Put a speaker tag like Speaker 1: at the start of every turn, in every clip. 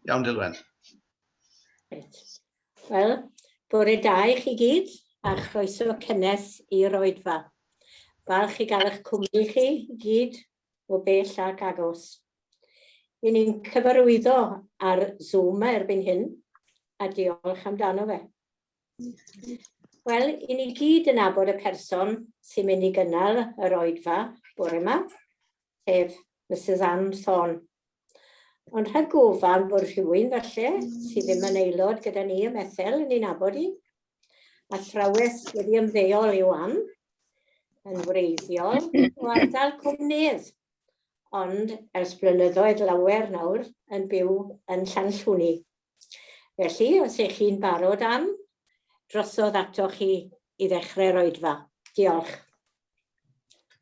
Speaker 1: Iawn, Dilwen. Wel, bore da i chi gyd, a chroeso cynnes i'r oedfa. Falch i gael eich cwmni chi gyd o bell ac agos. Yn ni'n cyfarwyddo ar Zoom erbyn hyn, a diolch amdano fe. Wel, i ni gyd yn abod y person sy'n mynd i gynnal yr oedfa bore yma, sef Mrs Ann Thorn. Ond rhag gofan bod rhywun falle sydd ddim yn aelod gyda ni ym Methel yn ein abod i. A thrawes wedi ymddeol i'w am yn wreiddiol o ardal Cwmnydd, ond ers blynyddoedd lawer nawr yn byw yn Llanllwni. Felly, os ych chi'n barod am, drosodd atoch chi i ddechrau'r oedfa. Diolch.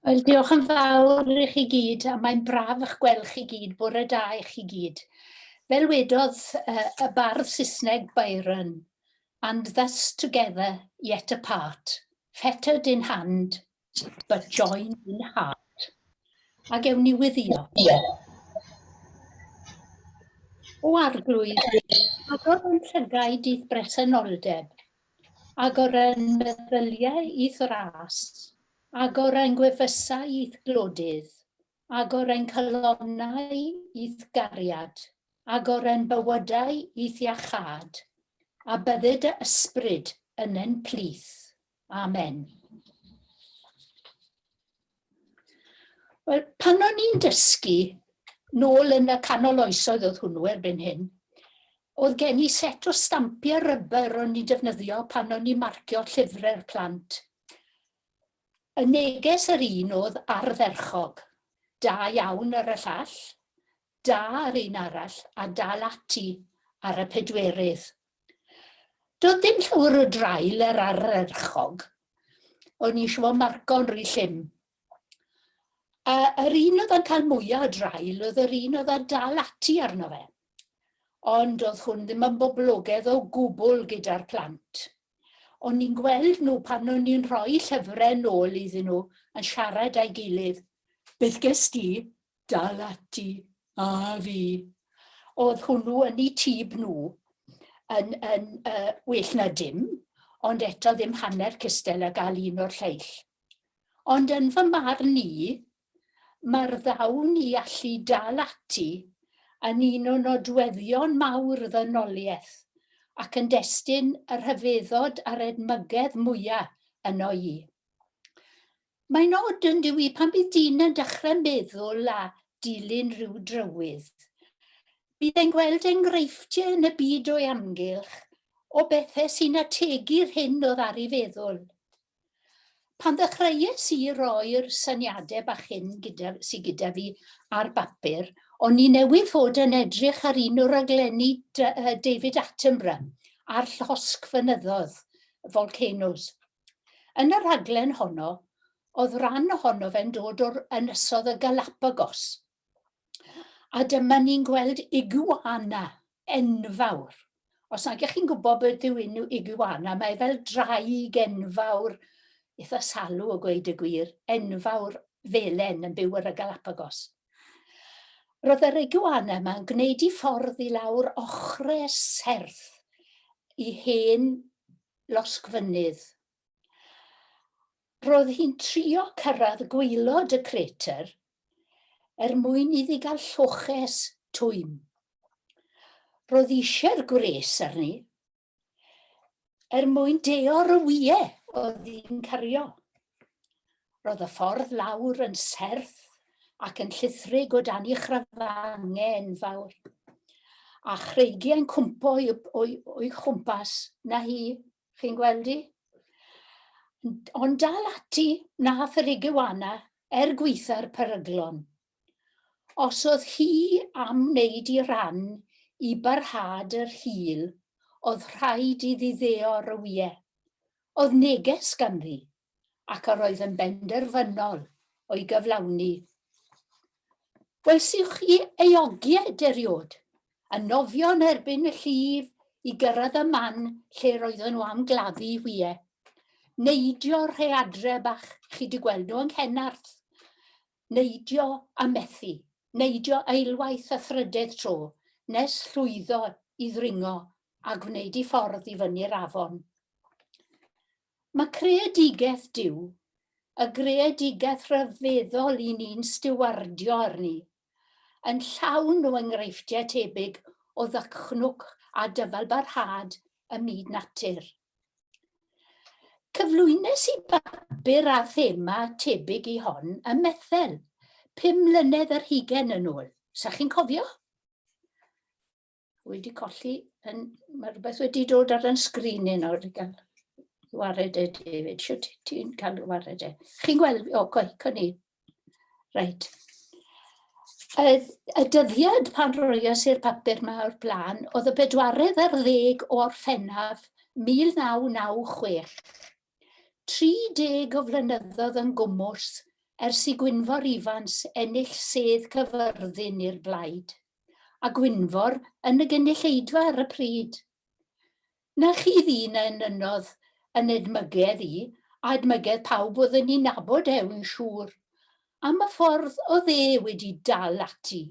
Speaker 1: Wel, diolch yn fawr i chi gyd, a mae'n braf eich gweld chi gyd, bore da i chi gyd. Fel wedodd uh, y bardd Saesneg Byron, and thus together yet apart, fettered in hand, but join in heart. A gewn ni wyddio. O arglwydd, agor yn llygaid i'th bresenoldeb, agor yn meddyliau i'th ras, agor yn gwefusau i'th glodydd, agor yn calonau i'th gariad, agor yn bywydau i'th iachâd, a bydded dy ysbryd yn yn plith. Amen. Wel, pan o'n i'n dysgu, nôl yn y canol oesoedd oedd hwnnw erbyn hyn, oedd gen i set o stampiau rybr o'n i'n defnyddio pan o'n i'n marcio llyfrau'r plant. Y neges yr un oedd ardderchog, da iawn ar y llall, da ar un arall a dal ati ar y pedwerydd. Doedd dim llawr o draul yr arerchog. O'n i eisiau fo marco'n rhy llym. A yr un oedd yn cael mwyaf o draul oedd yr un oedd yn dal ati arno fe. Ond oedd hwn ddim yn boblogedd o gwbl gyda'r plant. O'n i'n gweld nhw pan o'n i'n rhoi llyfrau nôl iddyn nhw yn siarad â'i gilydd. Beth ges di? dal ati, a fi. Oedd hwnnw yn ei tîb nhw yn, yn uh, well na dim, ond eto ddim hanner cystel a gael un o'r lleill. Ond yn fy marn ni, mae'r ddawn i allu dal ati yn un o nodweddion mawr y ddynoliaeth ac yn destun y rhyfeddod a'r edmygedd mwyaf yno i. Mae'n od yndyw i, pan bydd dyn yn dechrau meddwl a dilyn rhyw drywydd, bydd e'n gweld enghreifftiau yn y byd o'i amgylch o bethau sy'n ategu'r hyn oedd ar ei feddwl. Pan ddechreuais i roi'r syniadau bach hyn gyda, sy gyda fi ar bapur, o'n i newydd fod yn edrych ar un o raglenni David Attenborough a'r llosgfynyddoedd, volcanoes. Yn y rhaglen honno, oedd ran ohono fe'n dod o'r ynysodd y Galapagos. A dyma ni'n gweld iguana enfawr. Os nag ych chi'n gwybod beth yw un iguana, mae fel draig enfawr, eitha salw o gweud y gwir, enfawr felen yn byw ar y Galapagos. Roedd yr iguana yma'n gwneud i ffordd i lawr ochre serth i hen losgfynydd. Roedd hi'n trio cyrraedd gwaelod y crater er mwyn iddi gael lloches twym. Roedd eisiau'r gwres arni er mwyn deor y wyau oedd hi'n cario. Roedd y ffordd lawr yn serth ac yn llithrig o dan i chrafangau enfawr, a chreigiau'n cwmpo o'i, o'i, o'i chwmpas, na hi, chi'n gweld i? Ond dal ati, nath yr igiwana, er gweitha'r peryglon. Os oedd hi am wneud i ran i barhad yr hil, oedd rhaid iddi ddeo rywie. Oedd neges ganddi, ac yr oedd yn benderfynol o'i gyflawni. Welsiwch chi ei ogiaid eriod, yn nofio yn erbyn y llif i gyrraedd y man lle roedden nhw am gladdu hwie. Neidio rhe adre bach, chi di gweld nhw yng Nghenarth. Neidio a methu neidio eilwaith a thrydedd tro nes llwyddo i ddringo a gwneud ei ffordd i fyny'r afon. Mae creadigaeth Duw, y greadigaeth ryfeddol i ni'n stiwardio arni, yn llawn o enghreifftiau tebyg o ddychnwch a dyfalbarhad ym myd natur. Cyflwynes i bapur â thema tebyg i hon ym Methel, pum mlynedd yr hugen yn ôl. Sa chi'n cofio? Wedi colli, yn, mae rhywbeth wedi dod ar yn sgrin i nawr i gael wared e, David. Siwt ti'n cael wared e? Chi'n gweld, o, coe, cwn i. Reit. Y, y dyddiad pan roias i'r papur yma o'r blaen, oedd y bedwaredd ar ddeg o Orffennaf 1996. 30 o flynyddoedd yn gwmws ers i Gwynfor Ifans ennill sedd cyfyrddin i'r blaid, a Gwynfor yn y gynulleidfa ar y pryd. Na chi ddyn a enynnodd yn edmygedd i, a edmygedd pawb oedd yn ei nabod e, wi'n siŵr, am y ffordd oedd e wedi dal ati,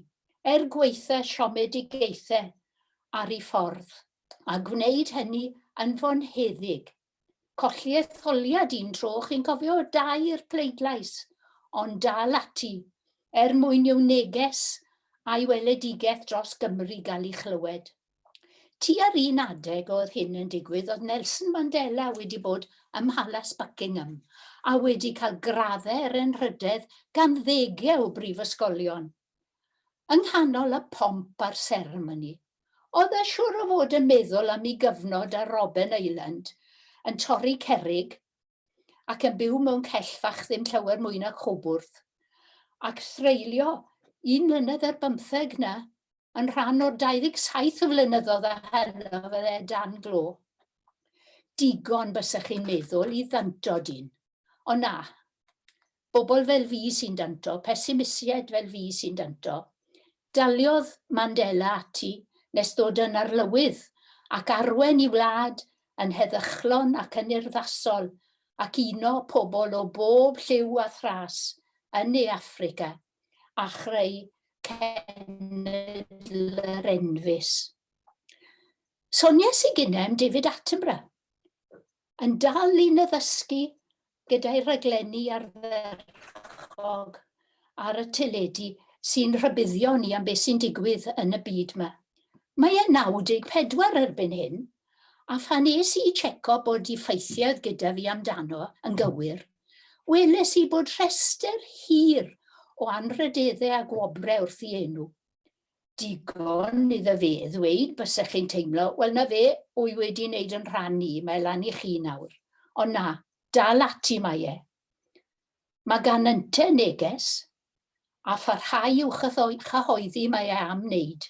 Speaker 1: er gwaetha siomedigaethe ar ei ffordd, a gwneud hynny yn fonheddig. Colli etholiad un tro, chi'n cofio, o dair pleidlais, ond dal ati, er mwyn i'w neges a'i weledigaeth dros Gymru gael ei chlywed. Tua'r un adeg oedd hyn yn digwydd oedd Nelson Mandela wedi bod ym Mhalas Buckingham a wedi cael graddau er enrhydedd gan ddegau o brifysgolion. Yng nghanol y pomp a'r seremoni, oedd e siwr o fod yn meddwl am i gyfnod ar Robben Island yn torri cerrig ac yn byw mewn cell fach ddim llawer mwy na chwbwrdd, ac threulio un mlynedd ar bymtheg na yn rhan o'r 27 o flynyddoedd a heno fydde e dan glo. Digon bysach chi'n meddwl i ddantod un, ond na, bobl fel fi sy'n danto, pesimisied fel fi sy'n danto. Daliodd Mandela ati nes ddod yn arlywydd, ac arwen i wlad yn heddychlon ac yn urddasol, ac uno pobl o bob lliw a thras yn ne Affrica, a chreu cenedl-yr enfys. Sonies i ginem David Attenborough, yn dal i naddysgu gyda'i raglenni ardderchog ar y teledu sy'n rhybuddio ni am beth sy'n digwydd yn y byd 'ma. Mae e'n 94 erbyn hyn, a phan es i i tseco bod i ffeithiau oedd gyda fi amdano yn gywir, weles i bod rhestr hir o anrhydeddau a gwobrau wrth ei enw. Digon iddo fe ddweud byse chi'n teimlo, wel na fe, wy wedi neud yn rhan i, mae lan i chi nawr. Ond na, dal ati mae e. Mae gan ynte neges, a pharhau i'w chyhoeddi mae e am neud.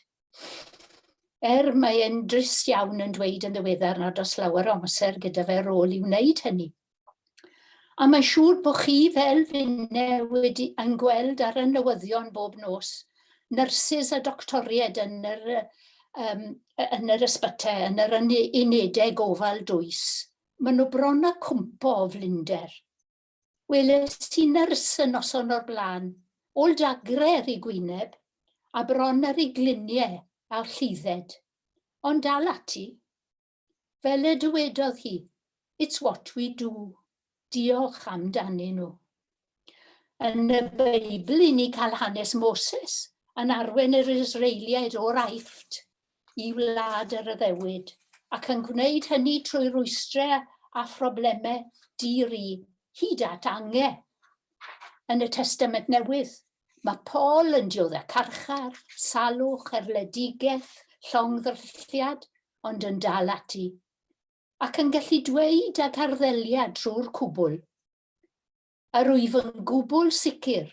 Speaker 1: Er mae e'n drist iawn yn dweud yn ddiweddar nad oes lawer o amser gyda fe rôl i wneud hynny. A mae'n siŵr bod chi fel finne wedi yn gweld ar y newyddion bob nos, nyrsys a doctoried yn yr, um, yn yr ysbytau, yn yr unedau gofal dwys. Maen nhw bron a cwmpo o flinder. Weles i nyrs y noson o'r blaen, ôl dagre ar ei gwyneb, a bron ar ei gliniau a'r llidded. Ond dal ati. Fel y dywedodd hi, It's what we do. Diolch amdanyn nhw. Yn y Beibl i ni cael hanes Moses yn arwen yr Israeliaid o'r Aifft i wlad yr addewid ac yn gwneud hynny trwy rwystrau a phroblemau di-ri hyd at angau. Yn y Testament Newydd, Mae Paul yn dioddef carchar, salwch, erledigaeth, llongddrylliad, ond yn dal ati, ac yn gallu dweud ag arddeliad trwy'r cwbl, Yr wyf yn gwbl sicr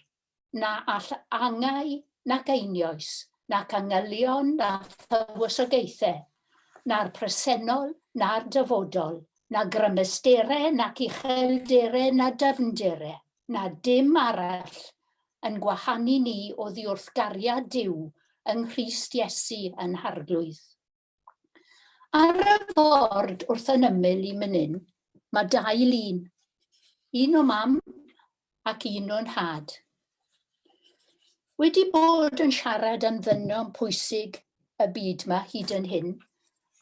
Speaker 1: na all angau, nac einioes, nac angylion, na thywysogaethau, na'r presennol, na'r dyfodol, na grymesterau, nac uchelderau, na dyfnderau, na dim arall yn gwahanu ni oddi wrth gariad Duw yng Nghrist Iesu yn Harglwydd. Ar y ford wrth yn ymyl i mynin, mae dau lun, un o mam ac un o'n nhad. Wedi bod yn siarad am ddynion pwysig y byd yma hyd yn hyn,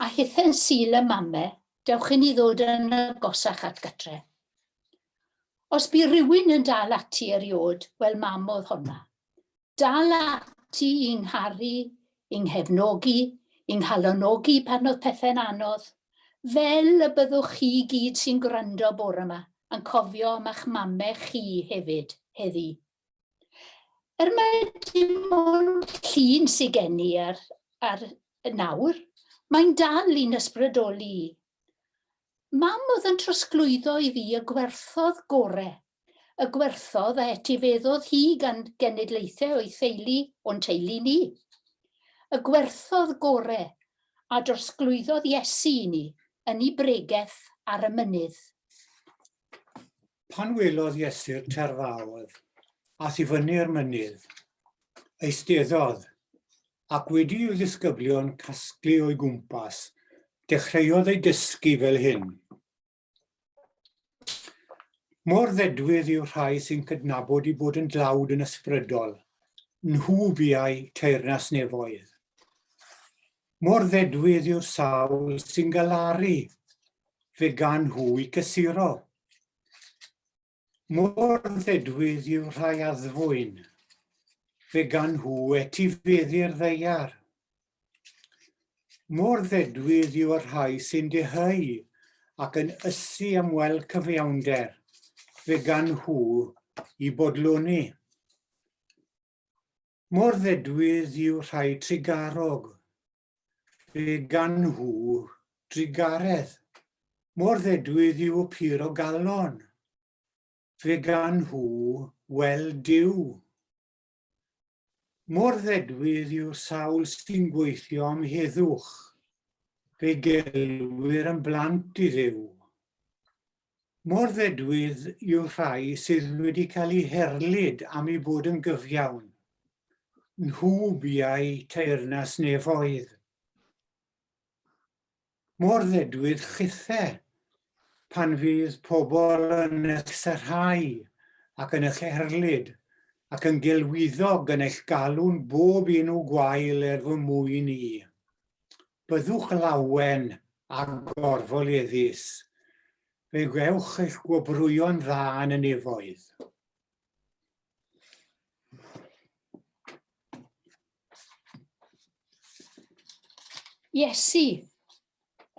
Speaker 1: a hithen syl y mame, dewch i ni ddod yn agosach at gytre. Os bu rywun yn dal ati eriod, wel mam oedd honna. Dal ati i 'ngharu, i 'nghefnogi, i 'nghalonogi pan oedd pethau'n anodd. Fel y byddwch chi gyd sy'n gwrando bore 'ma yn cofio am a'ch mamau chi hefyd, heddi. Er mae dim ond llun sydd gen i ar, ar nawr, mae'n dal i'n ysbrydoli i. Mam oedd yn trosglwyddo i fi y gwerthoedd gore, y gwerthoedd a etifeddodd hi gan genedlaethau o'i theulu o'n teulu ni. Y gwerthoedd gore a drosglwyddodd Iesu i ni yn ei bregeth ar y mynydd. Pan welodd Iesu'r terfaodd, ath i fyny'r mynydd, eisteddodd, ac wedi i'w ddisgyblion casglu o'i gwmpas, dechreuodd ei dysgu fel hyn. Mor ddedwydd yw rhai sy'n cydnabod i bod yn dlawd yn ysbrydol, nhw biau teyrnas nefoedd. Mor ddedwydd yw'r sawl sy'n galaru fe gan hwy cysuro. Mor ddedwydd yw rhai addfwyn fe gan hw etifeddu'r ddeiar. Mor ddedwydd yw y rhai sy'n deheu ac yn ysu am weld cyfiawnder, fe gan hw i bodloni. Mor ddedwydd yw rhai trugarog, fe gan nhw drugaredd. Mor ddedwydd yw y pur o galon, fe gan nhw wel Duw. Mor ddedwydd yw'r sawl sy'n gweithio am heddwch, fe gelwir yn blant i Dduw. Mor ddedwydd yw'r rhai sydd wedi cael eu herlid am eu bod yn gyfiawn. Nhw buau teyrnas nefoedd. Mor ddedwydd chithe pan fydd pobl yn eich sarhau ac yn eich erlid ac yn gelwyddo yn eich galw'n bob un o gwael er fy mwyn i. Byddwch lawen a gorfoleddus, fe gewch eich gwobrwyo'n dda yn y nefoedd. Iesu,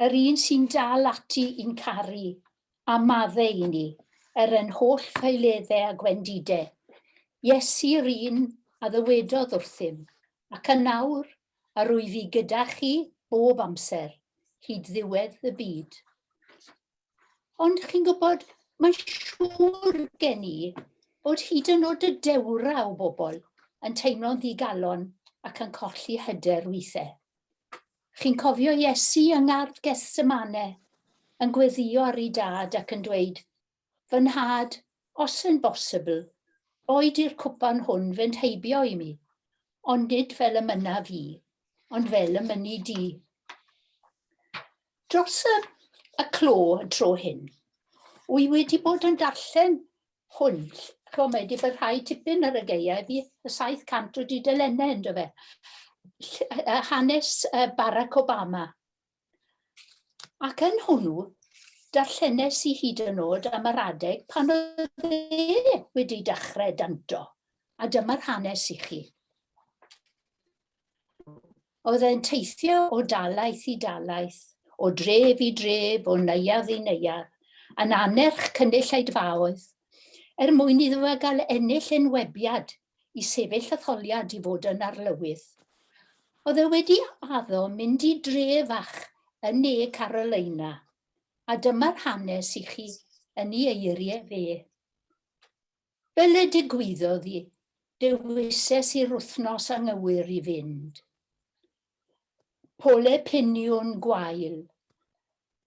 Speaker 1: yr un sy'n dal ati i'n caru, a madde i ni, er yn holl ffeiledde a gwendide. Iesu, yr un a ddywedodd wrthym, Ac yn nawr, a rwyf i gyda chi bob amser, hyd ddiwedd y byd. Ond chi'n gwybod, mae'n siŵr gen i bod hyd yn oed y dewra o bobl yn teimlo'n ddigalon ac yn colli hyder weithiau. Chi'n cofio Iesu yng ngardd Gethsemane, yn gweddio ar ei dad ac yn dweud, Fy nhad, os yn bosibl, boed i'r cwpan hwn fynd heibio i mi, ond nid fel y mynnaf i, ond fel y mynni di. Dros y, y clo y tro hyn, wy wedi bod yn darllen hwn, chwa mae wedi bod rhai tipyn ar y geiau fi, y 700 o dudalennau ynddo fe. Hanes Barack Obama, Ac yn hwnnw, darllenes i hyd yn nod am yr adeg pan oedd e wedi dechrau danto, a dyma'r hanes i chi. Oedd e'n teithio o dalaeth i dalaeth, o dref i dref, o neuadd i neuadd, yn anerch cynulleidfaoedd, er mwyn iddo fe gael ennill enwebiad i sefyll etholiad i fod yn arlywydd. Oedd e wedi addo mynd i dre fach yn ne Carolina, a dyma'r hanes i chi yn ei eiriau fe. Fel y digwyddodd i, dewises i'r wythnos anghywir i fynd. Pole piniwn gwael.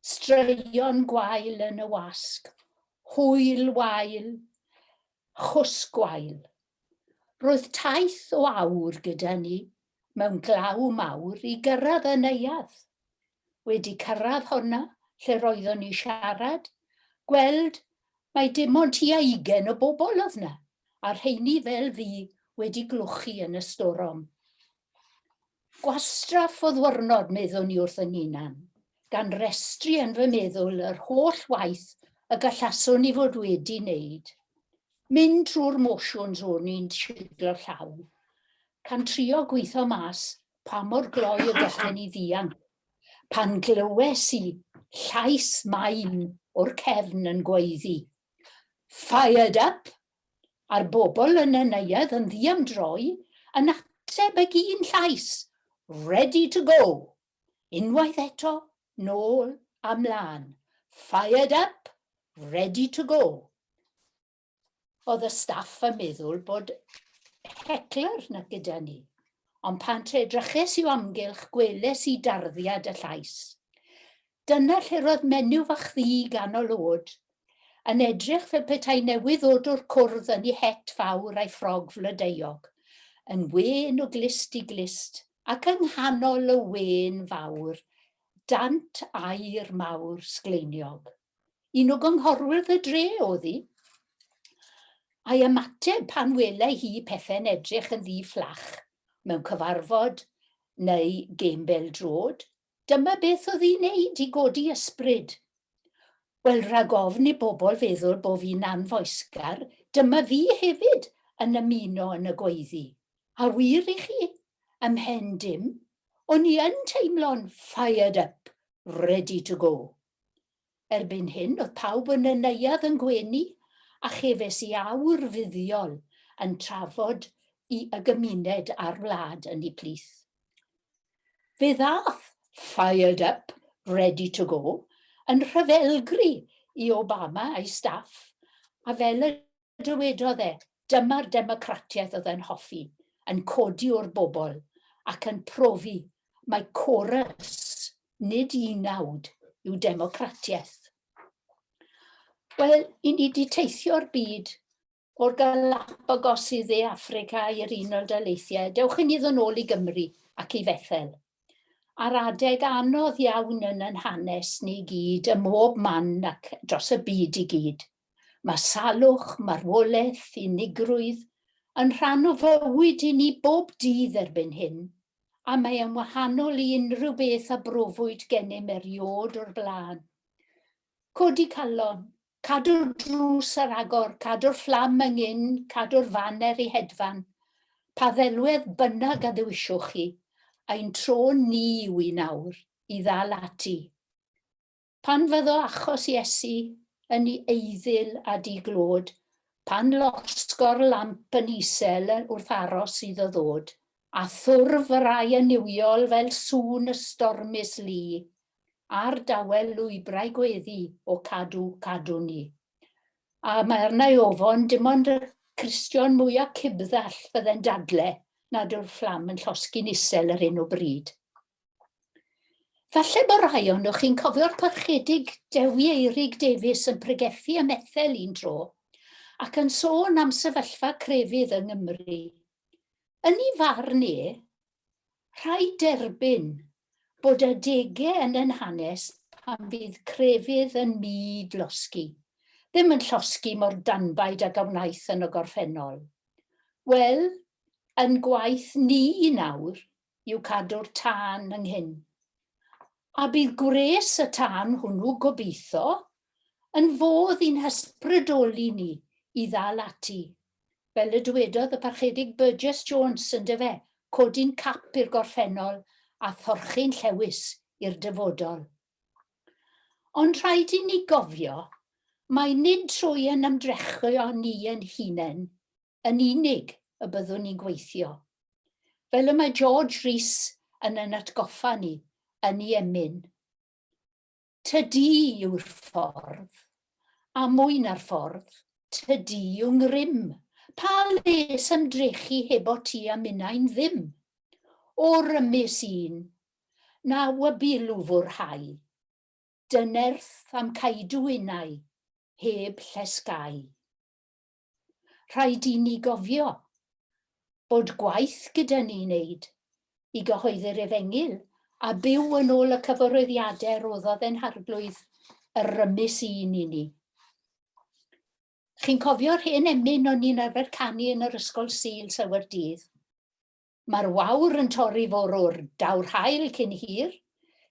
Speaker 1: Straeon gwael yn y wasg. Hwyl wael. Chwsg gwael. Roedd taith o awr gyda ni mewn glaw mawr i gyrraedd y neuadd. Wedi cyrraedd honna lle roeddwn ni siarad, gweld mae dim ond tua ugen o bobl oedd na, a rheini fel fi wedi glwchu yn y storom. Gwastraff o ddwrnod, meddwn i wrth fy nghunan, gan restru yn fy meddwl yr holl waith y gallaswn i fod wedi wneud. Mynd trwy'r motions o'n i'n siglo llaw, can trio gweithio mas pa mor gloi y gallen i ddianc, pan glywes i llais main o'r cefn yn gweiddi, Fired up, a'r bobl yn y neuadd yn ddiamdroi yn ateb ag un llais, Ready to go! Unwaith eto, nôl a mlân, Fired up! Ready to go! Oedd y staff yn meddwl bod hecler 'na gyda ni, ond pan te-edryches i'w amgylch gweles i darddiad y llais. Dyna lle roedd menyw fach ddu ganol o'd, yn edrych fel petai newydd ddod o'r cwrdd yn ei het fawr a'i ffrog flodeuog, yn wên o glust i glust, ac yng nghanol y wên fawr, dant aur mawr sgleiniog. Un o gynghorwyr y dre o'dd hi. A'i ymateb pan welai hi pethe'n edrych yn ddi fflach, mewn cyfarfod neu gêm bel-droed, Dyma beth oedd hi'n neud i godi ysbryd. Wel, rhag ofn i bobl feddwl bo' fi'n anfoesgar, dyma fi hefyd yn ymuno yn y gweiddi. A wir i chi, ym mhen dim, o'n i yn teimlo'n fired up, ready to go. Erbyn hyn oedd pawb yn y neuadd yn gwenu a chefais i awr fuddiol yn trafod i y gymuned a'r wlad yn ei plith. Fe ddaeth Fired Up, Ready to Go yn rhyfelgri i Obama a'i staff a fel y Dywedodd e, Dyma'r democratiaeth oddai'n hoffi, yn codi o'r bobl ac yn profi mai corus, nid unawd, yw democratiaeth. Wel, i ni di teithio'r byd o'r Galapagos i dde Africa i'r Unol Daleithiau, dewch i ni ddod ôl i Gymru ac i Fethel. A'r adeg anodd iawn yn yn hanes ni gyd, ym mhob man ac dros y byd i gyd. Mae salwch, marwolaeth, unigrwydd yn rhan o fywyd i ni bob dydd erbyn hyn, a mae e'n wahanol i unrhyw beth a brofwyd gennym eriôd o'r blaen. Codi calon, cadw'r drws ar agor, cadw'r fflam yng ngyn, cadw'r faner i hedfan, pa ddelwedd bynnag a ddewiswch chi, ein tro ni yw i nawr i ddal ati. Pan fyddo achos Iesu yn i eiddil a di glod, Pan losgo'r lamp yn isel wrth aros iddo ddod, A thwrf yr ai yn niwiol fel sŵn y stormus lu, A'r dawel lwybrau gweddi o cadw, cadw ni. A mae arna i ofon, dim ond y Cristion mwya cibddall fydde'n dadle nad yw'r fflam yn llosgi'n isel ar hyn o bryd. Falle bod rhai ohonoch chi'n cofio'r parchedig Dewi Eirig Davies yn pregethu ym Methel un tro, ac yn sôn am sefyllfa crefydd yng Nghymru. Yn ei farn e, rhaid derbyn bod adegau yn ein hanes pan fydd crefydd yn myd losgi, ddim yn llosgi mor danbaid ag a wnaeth yn y gorffennol. Wel, yn gwaith ni nawr, yw cadw'r tân yng nghyn. A bydd gwres y tân hwnnw, gobeitho, yn fodd i'n hysbrydoli ni i ddal ati. Fel y dywedodd y Parchedig Burgess Jones, yndyfe, codi'n cap i'r gorffennol a thorchu'n llewys i'r dyfodol. Ond rhaid i ni gofio mai nid trwy ein ymdrechion ni ein hunain yn unig y byddwn ni'n gweithio. Fel y mae George Rees yn yn atgoffa ni yn i emyn. Tydi yw'r ffordd, a mwy na'r ffordd, tydi yw ngrym. Pa les ymdrechu heb o ti a minnau'n ddim? O rymus un, na wybu lwfwr hau, dynerth am caedu unau heb llesgau. Rhaid i ni gofio bod gwaith gyda ni wneud i gyhoeddi'r efengyl a byw yn ôl y cyfarwyddiadau roddodd ein harglwydd yr rymus un i ni. Chi'n cofio'r hen emyn o'n ni'n arfer canu yn yr ysgol Sul Sewer Dydd? Mae'r wawr yn torri fwrw'r daw'r haul cyn hir,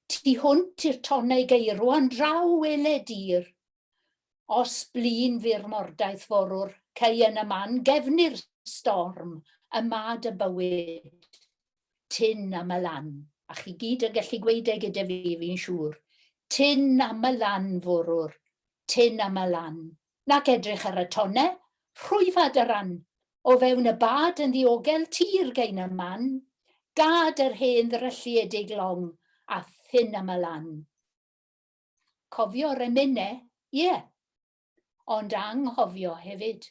Speaker 1: Tu hwnt i'r tonnau geirwa'n draw wele dir. Os blin fu'r mordaith fwrw'r cei yn y man gefnir storm y mad y bywyd. Tyn am y lan, a chi gyd yn gallu gweud e gyda fi fi'n siŵr, Tyn am y lan fwrw'r, tyn am y lan, nac edrych ar y tonnau, rhwyfad y ran, o fewn y bad yn ddiogel tir gain a man, gad yr hen ddrylliedig long a thynn am y lan. Cofio'r emynau, ie, ond anghofio hefyd.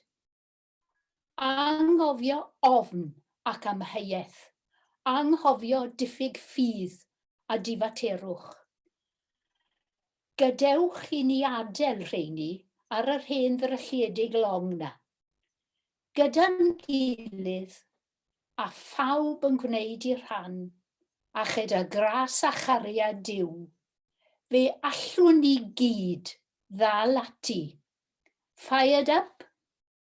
Speaker 1: Anghofio ofn ac amheuaeth, anghofio diffyg ffydd a difaterwch. Gadewch i ni adel rheini ar yr hen ddrylliedig long 'na. Gyda'n gilydd, a phawb yn gwneud eu rhan, a chyda gras a chariad Duw, fe allwn ni gyd ddal ati Fired up,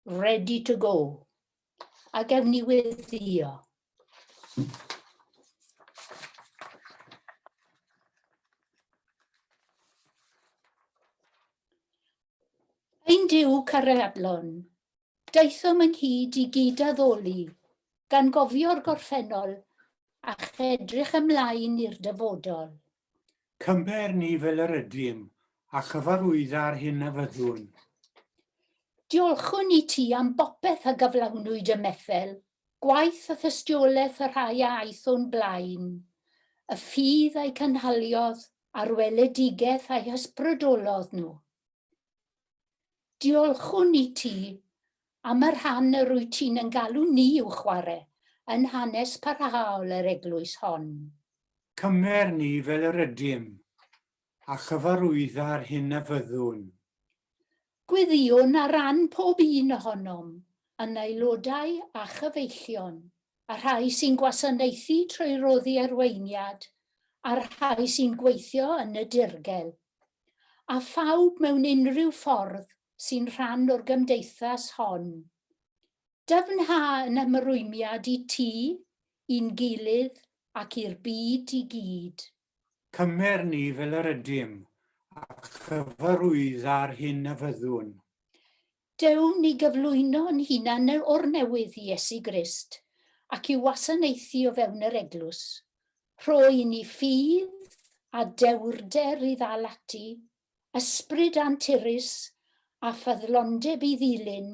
Speaker 1: ready to go. A gefn ni weddio. Ein Duw cariadlon, Daethom ynghyd i gyd-addoli, gan gofio'r gorffennol a chedrych ymlaen i'r dyfodol. Cymher ni fel yr ydym, a chyfarwydda'r hyn a fyddwn. Diolchwn i ti am bopeth a gyflawnwyd ym Methel, gwaith a thystiolaeth y rhai a aeth o'n blaen, y ffydd a'u cynhaliodd a'r weledigaeth a'u hysbrydolodd nhw. Diolchwn i ti am y rhan yr wyt ti'n yn galw ni i'w chwarae yn hanes parhaol yr eglwys hon. Cymer ni fel yr ydym, a chyfarwydda yr hyn a fyddwn. Gweddïwn ar ran pob un ohonom, yn aelodau a chyfeillion. a rhai sy'n gwasanaethu trwy roddi arweiniad, a'r rhai sy'n gweithio yn y dirgel, a phawb mewn unrhyw ffordd sy'n rhan o'r gymdeithas hon. Dyfnha yn ymrwymiad i ti, i'n gilydd ac i'r byd i gyd. Cymer ni fel yr ydym, a chyfarwydda'r hyn a fyddwn. Deuwn ni gyflwyno'n hunan o'r newydd i Iesu Grist, ac i'w wasanaethu o fewn yr Eglwys. Rho i ni ffydd a dewrder i ddal ati, ysbryd anturus, a ffyddlondeb i ddilyn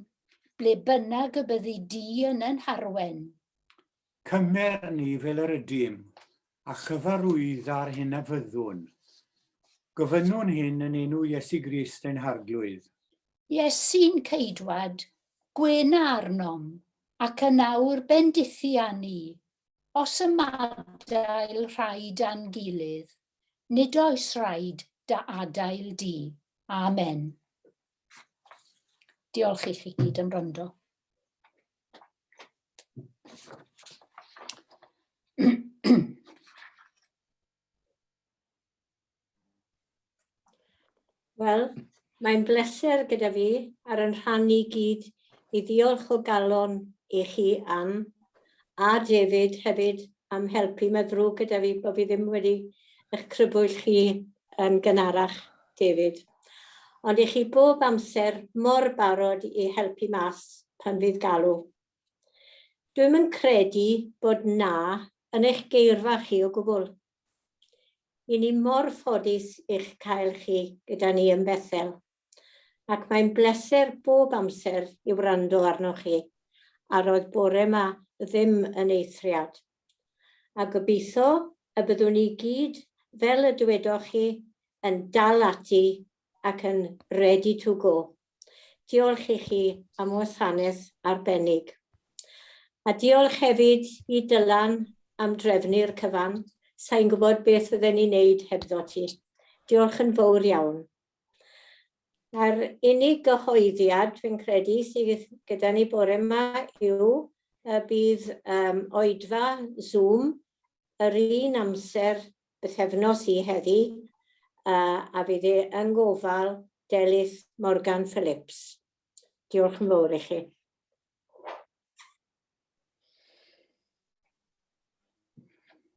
Speaker 1: ble bynnag y byddi Di yn ein harwen. Cymer ni fel yr ydym, a chyfarwydda'r hyn a fyddwn. Gofynnwn hyn yn enw Iesu Grist ein Harglwydd. Iesu'n ceidwad, gwena arnom, ac yn awr bendithi â ni. Os ymadael rhai da'n gilydd, nid oes rhaid da adael di. Amen. Diolch i chi gyd am wrando. Wel, mae'n bleser gyda fi ar yn rhan i gyd i ddiolch o galon i chi am, a David hefyd am helpu. Mae ddrwg gyda fi bod fi ddim wedi eich crybwyll chi yn gynharach David, ond i chi bob amser mor barod i helpu mas pan fydd galw. Dwi'm yn credu bod 'na' yn eich geirfa chi o gwbl. I ni mor ffodus i'ch cael chi gyda ni yn Bethel. ac mae'n bleser bob amser i wrando arnoch chi, a roedd bore 'ma ddim yn eithriad. A gobeithio y byddwn ni gyd, fel y dywedoch chi, yn dal ati ac yn ready to go. Diolch i chi am wasanaeth arbennig. A diolch hefyd i Dylan am drefnu'r cyfan, sa i'n gwybod beth fydden ni'n neud hebddo ti. Diolch yn fowr iawn. A'r unig gyhoeddiad, fi'n credu, sydd gyda ni bore yma yw y bydd um, oedfa Zoom yr un amser bythefnos i heddi, uh, a fydd e yn gofal Delyth Morgan Phillips. Diolch yn fawr i chi.